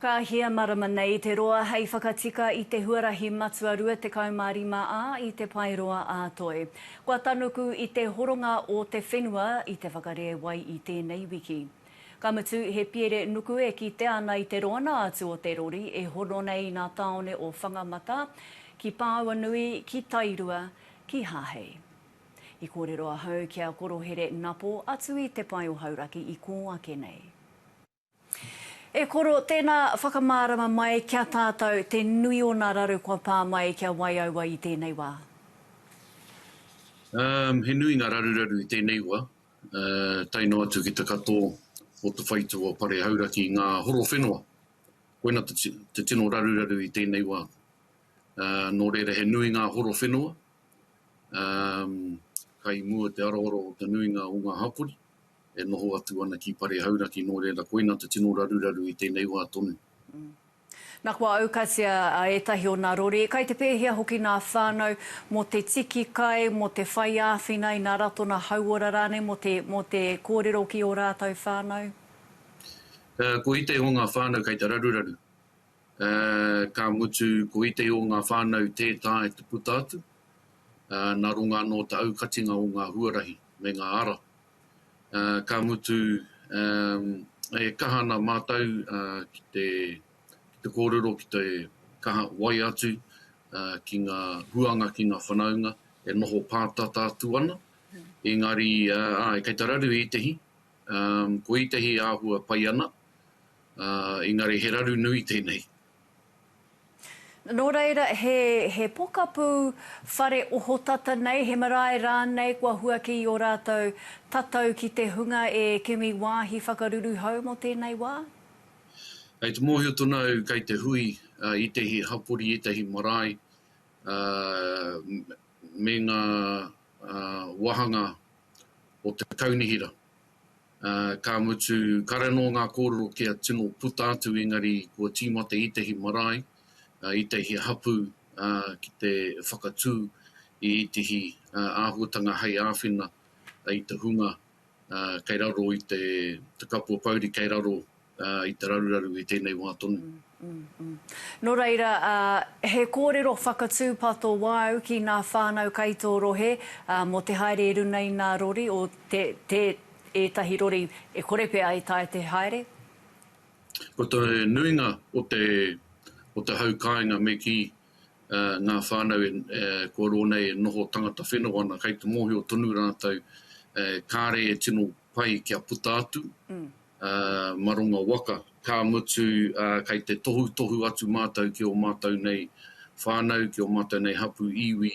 Ka hia marama nei te roa hei whakatika i te huarahi matua 25 a i te Pae Roa a Toi. Kua tanuku i te horonga o te whenua i te whakarēwai i tēnei wiki. Ka mutu he piere nuku e kite ana i te roana atu o te rori e hono nei i nā taone o Whangamata, ki Pāuanui, ki Tairua, ki Hahei. I kōrero ahau ki a Korohere Napo atu i Te Pae o Hauraki i kō ake nei. E koro, tēnā whakamārama mai ki a tātou te nui o nā raru kua pā mai kia wai aua i tēnei wā. Um, he nui ngā raruraru i tēnei wa, uh, tae noa atu ki te kato o te whaitu o Pare Hauraki i ngā horo whenua. Koina te, te tino raruraru i tēnei wa. Uh, nō reira he nui ngā horo whenua, um, kai mua te aroaro o te nuinga o ngā hapori. e noho atu ana ki Pare Hauraki, nō reira koina te tino raruraru i tēnei wā tonu. Na kua aukatia etahi o na rori, kai te pehea hoki na whanau mo te tiki kai, mo te whai awhina i na ratona hauora ranei mo te mo te korero ki o ratou whanau? Ko itei o nga whanau kai te raruraru. Ka mutu ko itei o nga whanau te tae te puta atu, na runga no ta aukatinga o nga huarahi me nga ara. ka mutu e kaha ana mātou ki te kōrero, ki te kaha wai atu ki ngā huanga, ki ngā whanaunga e noho pātata atu ana. Engari, āe, kei te raru ētehi, ko ētehi e āhua pai ana, engari he raru nui tēnei. Nō reira, he pokapū whare ohotata nei, he marae rānei kua huaki i ō rātou tatau ki te hunga e kimi wāhi whakaruruhau mō tēnei wā? Kei te mōhio tonu au kei te hui i ētahi hapori, ētahi marae me ngā wāhanga o te kaunihera. Ka mutu, kare anō ngā kōrero kia tino puta atu engari kua tīmata ētehi marae, ētehi hapū ki te whakatū i ētehi āhuatanga hei āwhina i te hunga kei raro i te kapua pouri kei raro i te raruraru i tēnei wā tonu. Nō reira, he kōrero whakatūpato wāu ki ngā whānau kai tō rohe mō te haere i runa i ngā rori o te ētahi rori e kore pea e taea te haere? Ko te nuinga o te o te hau kāinga me kī ngā whānau kua roa nei e noho tangata whenua ana kai te mōhio tonu rātou kāre e tino pai kia puta atu. maronga waka, ka mutu kei te tohutohu atu mātou ki ō mātou nei whānau, ki ō mātou nei hapū iwi,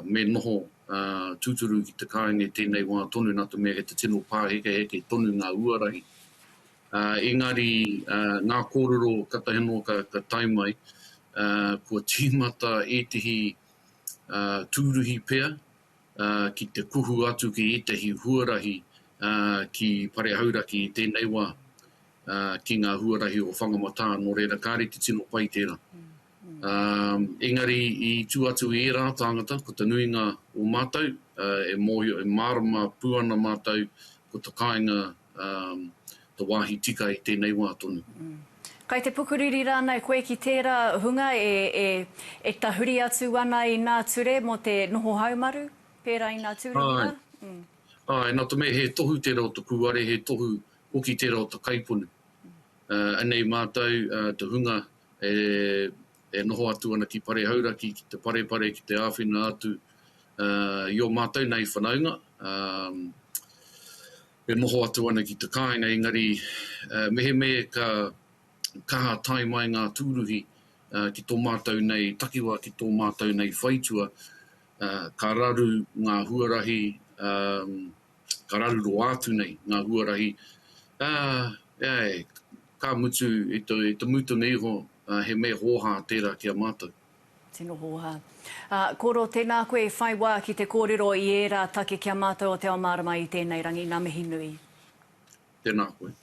me noho tūturu ki te kāinga i tēnei wā tonu, nā te mea kei te tino pāhekeheke tonu ngā huarahi. Engari ngā kōrero katahi anō ka tae mai, kua tīmata ētehi tūruhi pea, ki te kuhu atu ki ētahi huarahi ki Pare Hauraki i tēnei wā, ki ngā huarahi o Whangamatā, nō reira, kāre te tino pai tērā. Engari i tū atu i ērā tāngata, ko te nuinga o mātou, e mōhio, e mārama pū ana mātou, ko te kāinga te wāhi tika i tēnei wā tonu. Kai te pukuriri rānei koe ki tērā hunga e tahuri atu ana i nā ture mō te noho haumaru, pērā i nā tūranga? Āe, nā te mea he tohu tērā o te kūare, he tohu hoki tērā o te kaipunu. Anei mātou te hunga e e noho atu ana ki Pare Hauraki ki te parepare ki te āwhina atu i o mātou nei whanaunga e noho atu ana ki te kāinga engari mehemē ka kaha tae mai ngā tūruhi ki tō mātou nei takiwā ki tō mātou nei whaitua ka raru ngā huarahi ka raru roa atu nei ngā huarahi ka mutu i te mutunga iho ā, he mea hōhā tērā ki a mātou. Tino hōhā. Ā, kōrero, tēnā koe i whai wā ki te kōrero i ērā take ki a mātou o Te Ao Mārama i tēnei rangi. Ngā mihi nui. Tēnā koe.